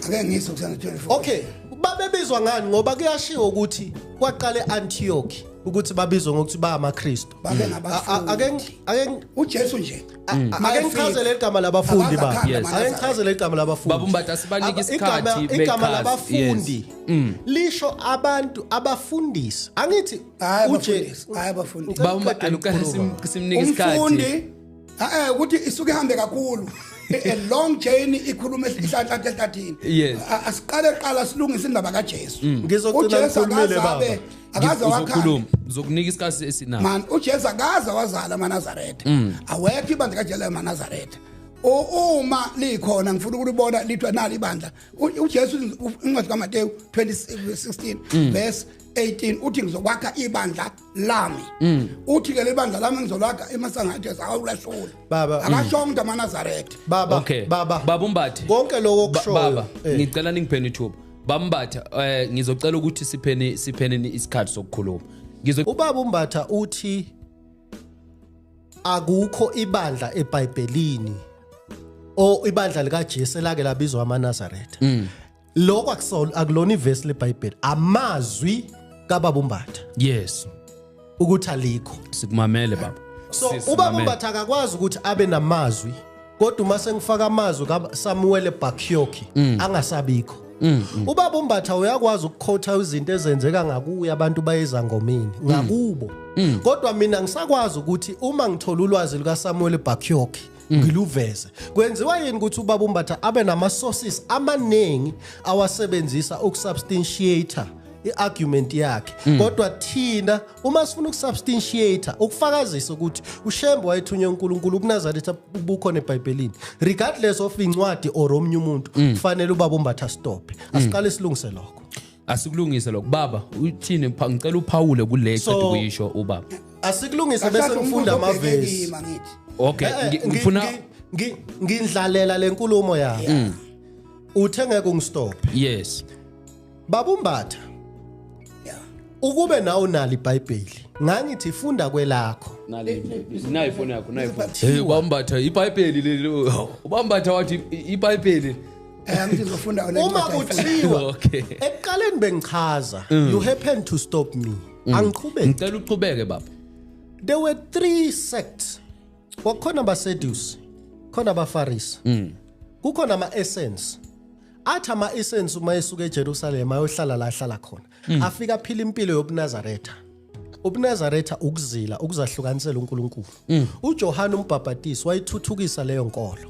ake ngiso kusana 24 okay babebizwa ngani ngoba kuyashiwo ukuthi kwaqale Antioch ukuthi babizwe ngokuthi ba amaKristu babe mm. ngabafundi ake uJesu nje mm. ake ngichazele igama labafundi ba ake ngichazele igama labafundi babumbatha asibanike isikhathi igama labafundi mm. lisho abantu abafundisi angithi uJesu hayi abafundisi babumbatha simnike isikhathi umfundi eh ukuthi isuke ihambe kakhulu a long journey ikhuluma esihlanhla ehlathini asiqale qala silungise indaba kaJesu ngizocela ngikhulumele baba akaze wakhala uzokhuluma uzokunika isikhathi esinayo man uJesu akaze wazala amaNazaretha mm. awekho ibandla kaJesu amaNazaretha uma likhona ngifuna ukulibona lithwa nali ibandla uJesu incwadi kaMateyu 2016 mm. verse 18 uthi ngizokwakha ibandla lami mm. uthi ke lebandla lami ngizolakha emasangathe zakawulahlula baba akasho umuntu amanazaretha baba okay baba baba umbathi konke lokho kushoyo baba eh. ngicela ningiphenithuba bambatha eh ngizocela ukuthi sipheni sipheni isikhathi sokukhuluma ngizo ubaba umbatha uthi akukho ibandla eBhayibhelini o ibandla likaJesu elake labizwa amaNazaretha mm. lokho akusona akulona ivesi leBhayibheli amazwi kababa umbatha yes ukuthi alikho sikumamele baba so ubaba mbatha akakwazi ukuthi abe namazwi kodwa uma sengifaka amazwi kaSamuel Bakyoki mm. angasabikho mm, mm. ubaba umbatha uyakwazi ukukhotha izinto ezenzeka ngakuye abantu bayeza ngomini ngakubo kodwa mina ngisakwazi ukuthi uma ngithola ulwazi lukaSamuel Bakyoki Mm. ngiluveze kwenziwa yini ukuthi ubaba umbatha abe nama sources amaningi awasebenzisa ukusubstantiator iargument yakhe mm. kodwa thina uma sifuna ukusubstantiator ukufakazisa ukuthi ushembe wayethunywe uNkulunkulu kunazaretha ubukhona eBhayibhelini regardless of incwadi or omunye umuntu mm. kufanele ubaba umbatha stop asiqale silungise lokho asikulungise lokho baba uthini pha- ngicela uphawule kule So- qeda ukuyisho ubaba asikulungise bese Kahlala ngifunda umbuzo obheke amavesi kima ngithi. okay Eh, eh, ngi- ngi- ngifuna ngi- ngi- ngindlalela lenkulumo yakhe Mm. uthe ngeke ungistop yes babumbatha Yeah. ukube nawe unalo ibhayibheli ngangithi funda kwelakho nayo ifoni yakho nayo ifoni Hey, ubambatha ibhayibheli leli ubambatha wathi i- ibhayibheli Eh, ngizofunda wena uma incwadi ayifunda. kuthiwa Okay. ekuqaleni bengichaza you happen to stop me angiqhubeki ngicela uqhubeke baba there were three sects kwakukhona abasedusi khona abafarisi kukhona ama-essence athi ama-essence uma esuka ejerusalema ayohlala la ahlala khona afike aphila impilo yobunazaretha ubunazaretha ukuzila ukuzahlukanisela unkulunkulu ujohane umbhabhatisi wayithuthukisa leyo nkolo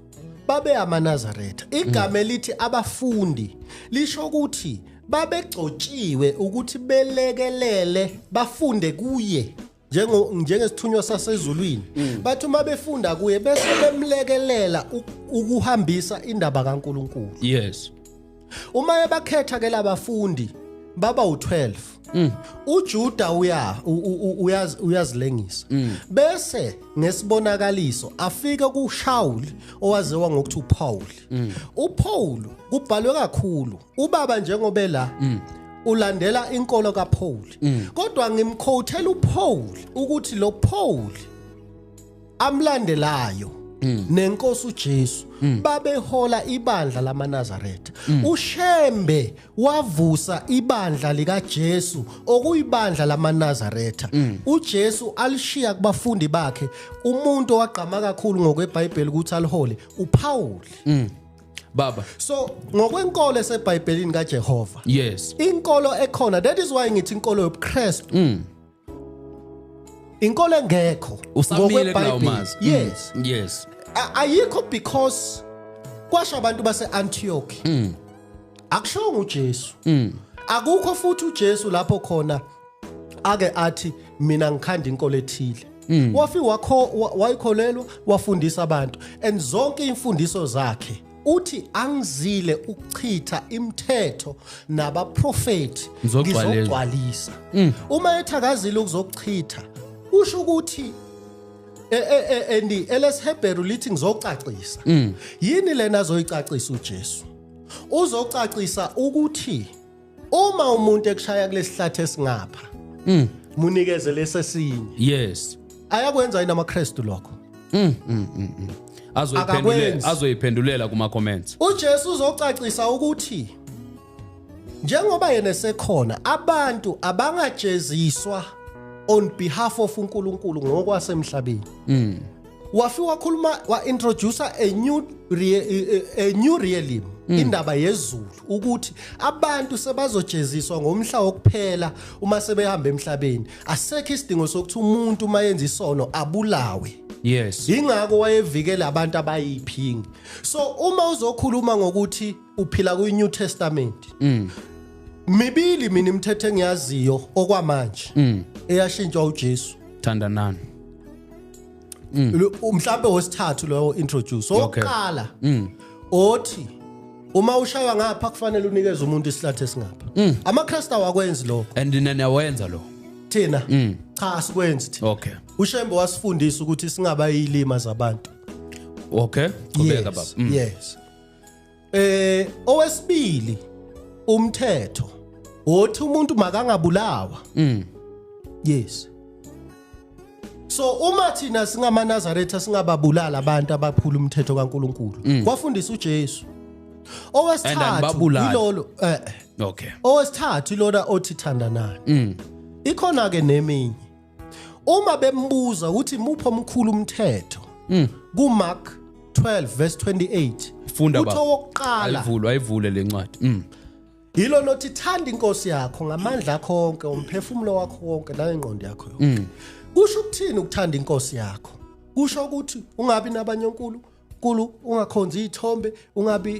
babe amanazaretha igama elithi abafundi lisho ukuthi babegcotshiwe ukuthi belekelele bafunde kuye njengo njengesithunywa sasezulwini bathi uma befunda kuye bese bemlekelela u- ukuhambisa indaba kaNkuluNkulu yes uma ebakhetha ke labafundi baba u12 mm. uJuda uya uyaz uyazilengisa mm. bese ngesibonakaliso afike kuShaul owaziwa ngokuthi uPaul mm. uPaul kubhalwe kakhulu ubaba njengobe la mm. ulandela inkolo kaPaul mm. kodwa ngimkhothela uPaul ukuthi lo Paul amlandelayo Mm. nenkosi uJesu mm. babehola ibandla lamaNazaretha mm. uShembe wavusa ibandla likaJesu okuyibandla lamaNazaretha uJesu alishiya kubafundi bakhe umuntu owagqama kakhulu ngokweBhayibheli ukuthi alihole uPaul baba so ngokwenkolo eseBhayibhelini kaJehova yes inkolo ekhona that is why ngithi inkolo yobuKristu inkolo engekho usamile kulawumazi mm. yes yes ayikho because kwasha abantu base Antioch mm. akushongo uJesu mm. akukho futhi uJesu lapho khona ake athi mina ngikhanda inkolo ethile mm. wafi wakho wayikholelwa wafundisa abantu and zonke imfundiso zakhe uthi angizile ukuchitha imithetho nabaprofeti Ngizogcwalisa. ngizogcwalisa Mm. uma ethakazile ukuzochitha usho ukuthi e- e- e- and elesihebheru lithi ngizocacisa Mm. yini lena azoyicacisa ujesu uzocacisa ukuthi uma umuntu ekushaya kulesihlathi esingapha mm. munikeze lesesinye yes ayakwenza yini amaKristu lokho mm, mm, mm, mm. azoyiphendulela azoyiphendulela kuma comments uJesu uzocacisa ukuthi njengoba yena sekhona abantu abangajeziswa on behalf of uNkulunkulu ngokwasemhlabeni mm. wafi wakhuluma wa introducer a new re, a new realm mm. indaba yezulu ukuthi abantu sebazojeziswa ngomhla wokuphela uma sebehamba emhlabeni asekho isidingo sokuthi umuntu uma yenza isono abulawe yes ingakho wayevikela abantu abayiphingi so uma uzokhuluma ngokuthi uphila kwi New Testament mm. mibili mina imithetho engiyaziyo okwamanje mm. eyashintshwa uJesu thandanani Mm. Umhlambe wesithathu lowo introduce. Oqala. Mm. Othi uma ushaywa ngapha kufanele unikeze umuntu isihlathi esingapha. Mm. AmaChrist awakwenzi lokho. And nina wenza lo. Thina. Cha asikwenzi thina. Okay. UShembe wasifundisa ukuthi singabayilima zabantu. Okay. Qhubeka baba. Yes. eh owesibili umthetho othi umuntu makangabulawa mm yes so uma thina singamaNazaretha singababulala abantu abaphula umthetho kaNkuluNkulu mm. kwafundisa uJesu owesithathu ilolo eh okay owesithathu ilona othi thandanani mm ikhona ke neminye uma bembuza ukuthi muphi omkhulu umthetho mm. ku Mark 12 verse 28 funda baba uthokqala ayivulwa ayivule lencwadi mm. yilo nothi thanda inkosi yakho ngamandla akho wonke umphefumulo wakho wonke nangengqondo yakho yonke mm. kusho ukuthini ukuthanda inkosi yakho kusho ukuthi ungabi nabanye onkulu Nkulu ungakhonzi izithombe ungabi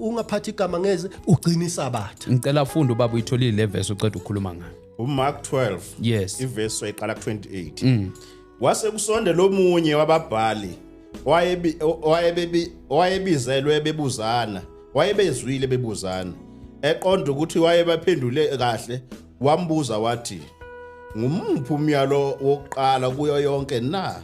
ungaphathi igama ngeze ugcina isabatha ngicela ufunde ubaba uyitholile le verse uceda ukukhuluma ngayo uMark 12 yes iverse wayiqala ku28 mm. wase kusondela omunye wababhali wayebi wayebebi wayebizelwe bebuzana wayebezwile bebuzana eqonda ukuthi wayebaphendule kahle wambuza wathi ngumuphi umyalo wokuqala kuyo yonke na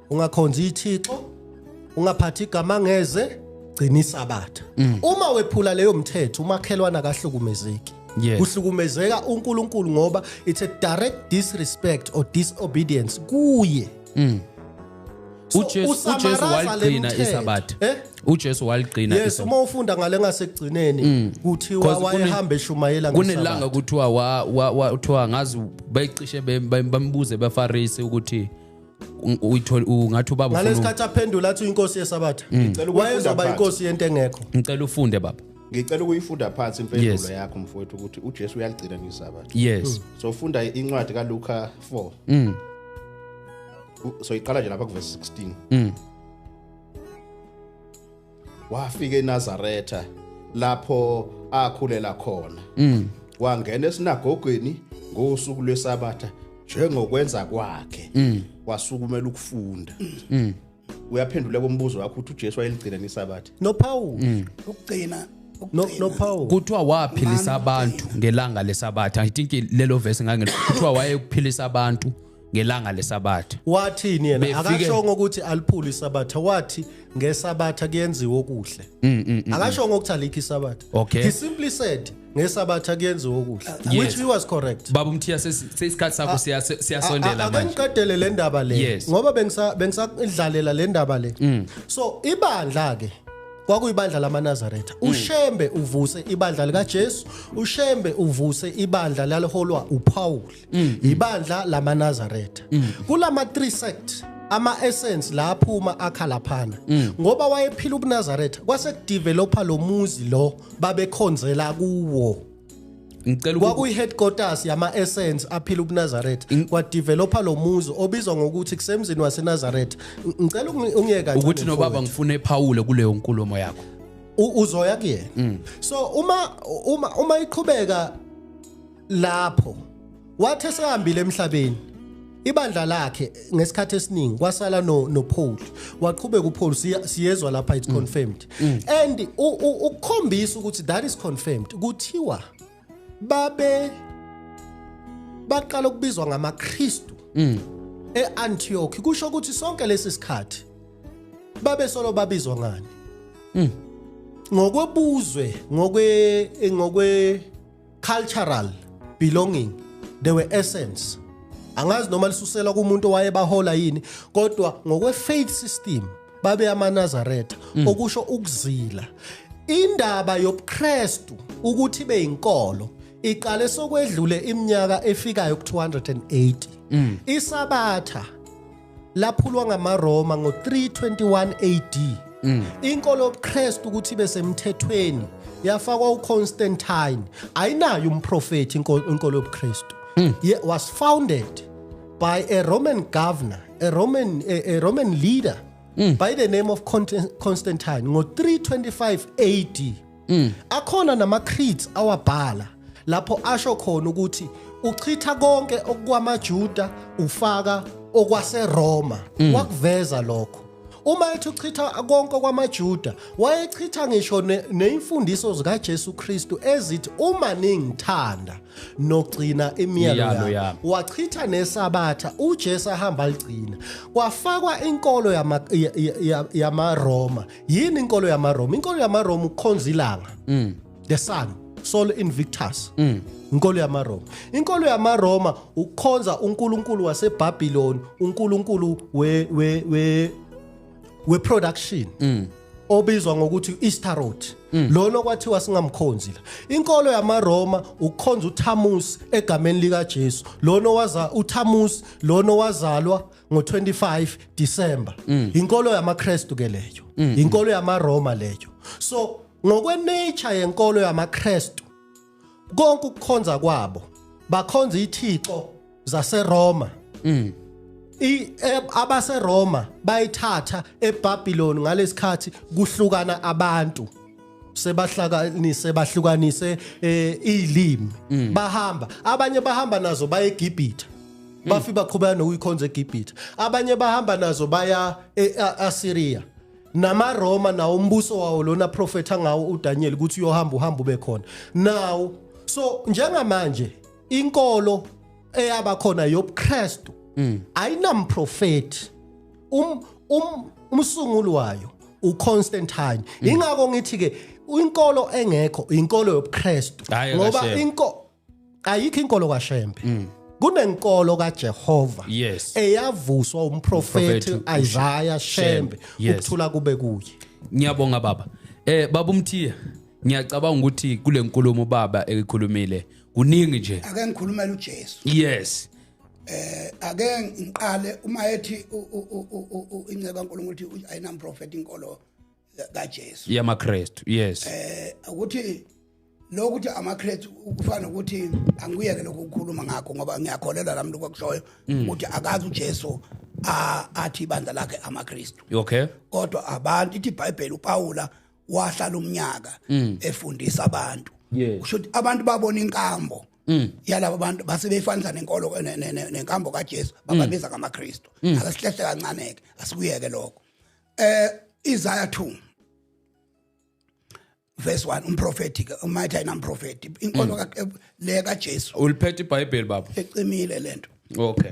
ungakhonzi ithixo ungaphathi igama ngeze gcina isabatha mm. uma wephula leyo mthetho umakhelwana akahlukumezeki Yes. Kuhlukumezeka uNkulunkulu ngoba it's a direct disrespect or disobedience kuye. Mm. uJesu uJesu waligcina isabatha eh? uJesu waligcina yes uma ufunda ngale ngasekugcineni mm. kuthiwa wayehamba eshumayela kunelanga kuthiwa wa uthiwa ngazi bayicishe bambuze baFarisi ukuthi uyithola ungathi ubaba ufuna ngalesikhathi aphendula athi inkosi yesabatha mm. ngicela wayezoba inkosi yento engekho ngicela ufunde baba ngicela ukuyifunda phansi impendulo yakho mfowethu ukuthi uJesu uyaligcina ngesabatha yes mm. so funda incwadi kaLuka 4 mm so iqala nje lapha kuverse 16 mm wafika eNazaretha lapho akhulela khona mm. wangena esinagogweni ngosuku lwesabatha njengokwenza kwakhe mm. wasukumela ukufunda mm. uyaphendula kombuzo wakho ukuthi uJesu wayeligcina nesabatha no Paul mm. ukugcina no no Paul kuthiwa waphilisa abantu ngelanga lesabatha i think lelo verse ngangelo kuthiwa wayekuphilisa abantu ngelanga lesabatha wathini yena Befike- akashongo ukuthi aliphule isabatha wathi ngesabatha kuyenziwa okuhle Mm, mm, mm. akashongo ukuthi alikho isabatha Okay. he simply said ngesabatha kuyenziwa okuhle Yes. which he was correct baba umthiya sesi- seyisikhathi sakho siya- se- siyasondela A- a- manje akangiqedele le ndaba le Yes. Mm. ngoba bengisa- bengisadlalela le ndaba le so ibandla ke kwakuyibandla lamanazaretha Mm. ushembe uvuse ibandla likajesu ushembe uvuse ibandla laliholwa upawuli mm. yibandla lamanazaretha mm. kulama 3 sect ama essence la aphuma akhala phana mm. ngoba wayephila ubunazaretha kwase kudevelopa lo muzi lo babekhonzela kuwo ngicela kwakuyi headquarters yama essence aphila ubunazaretha kwa developa lo muzi obizwa ngokuthi kusemzini wasenazaretha ngicela ungiyeka ukuthi nobaba ngifune ephawule kuleyo nkulumo yakho uzoya kuyena mm. so uma uma uma iqhubeka lapho wathi esehambile emhlabeni ibandla lakhe ngesikhathi esiningi kwasala no no Paul waqhubeka uPaul siyezwa lapha it's mm. confirmed mm. and ukukhombisa ukuthi that is confirmed kuthiwa babe baqala ukubizwa ngamaKristu mm. eAntioch kusho ukuthi sonke lesi sikhathi babe solo babizwa ngani ngokwebuzwe ngokwe ngokwe cultural belonging they were essence angazi noma lisusela kumuntu waye bahola yini kodwa ngokwe faith system babe amanazaretha mm. okusho ukuzila indaba yobuKristu ukuthi beyinkolo iqale sokwedlule iminyaka efikayo ku280 mm. isabatha laphulwa ngamaRoma ngo-321 AD. Mm. Inkolo yobuKristu ukuthi ibe semthethweni yafakwa uConstantine. Ayinayo umprofeti inkolo yobuKristu. Mm. Was founded by a Roman governor, a Roman a, a Roman leader mm. by the name of Constantine ngo-325 AD. mm. akhona nama creeds awabhala lapho asho khona ukuthi uchitha konke okwamaJuda ufaka okwaseRoma mm. wakuveza lokho uma ethi uchitha konke kwamaJuda wayechitha ngisho neimfundiso zikaJesu Kristu ezithi uma ningithanda nogcina imiyalo yami wachitha nesabatha uJesu ahamba ligcina kwafakwa inkolo yama yamaRoma yini inkolo yamaRoma inkolo yamaRoma ukhonza ilanga mm. the sun sol invictus mm. inkolo yamaroma inkolo yamaroma ukhonza unkulunkulu wasebhabhiloni unkulunkulu we we we we production mm. obizwa ngokuthi Istarot mm. lona kwathiwa singamkhonzi la inkolo yamaroma ukhonza uThamus egameni lika Jesu lona waza uThamus lona wazalwa ngo-25 December mm. inkolo yamaKristu ke leyo mm. inkolo yamaRoma leyo so ngokwenature yenkolo yamaKristu konke ukukhonza kwabo bakhonza ithixo zaseRoma mm. E, abaseRoma bayithatha eBabylon ngalesikhathi kuhlukana abantu sebahlakanise bahlukanise eh, izilimi mm. bahamba abanye bahamba nazo baye eGibhithe mm. bafi baqhubeka nokuyikhonza eGibhithe abanye bahamba nazo baya eAssyria e, namaRoma nawo umbuso wawo lona profeta ngawo uDaniel ukuthi uyohamba uhamba ube khona nawo so njengamanje inkolo eyabakhona yobuKristu mm. ayinamprofeti um um umsunguli wayo uConstantine mm. ingakho ngithi ke inkolo engekho inkolo yobuKristu ngoba inko ayikho inkolo kaShembe mm. kunenkolo kaJehova yes. eyavuswa umprofeti Isaiah Shembe yes. ukuthula kube kuye ngiyabonga baba eh baba umthiya ngiyacabanga ukuthi kule nkulumo baba ekhulumile kuningi nje ake ngikhulumele uJesu yes eh ake ngiqale uma ethi inceba uNkulunkulu uthi ayinam prophet inkolo kaJesu yamaKristu yes eh ukuthi lokuthi amaKristu kufana ukuthi angiyeke lokho ukukhuluma ngakho ngoba ngiyakholelwa lami lokho kushoyo mm. ukuthi akazi uJesu athi ibandla lakhe amaKristu okay kodwa abantu ithi iBhayibheli uPawula wahlala umnyaka mm. efundisa abantu usho ukuthi abantu babona inkambo Mm. yalabo bantu base beyifanisa nenkolo nenkambo kaJesu bababiza mm. ngamaKristu mm. akasihlehla kancane ke asikuyeke lokho eh Isaiah 2 verse 1 umprofeti ke umayitha ina umprofeti inkolo ka eh, le kaJesu uliphethe iBhayibheli baba ecimile lento okay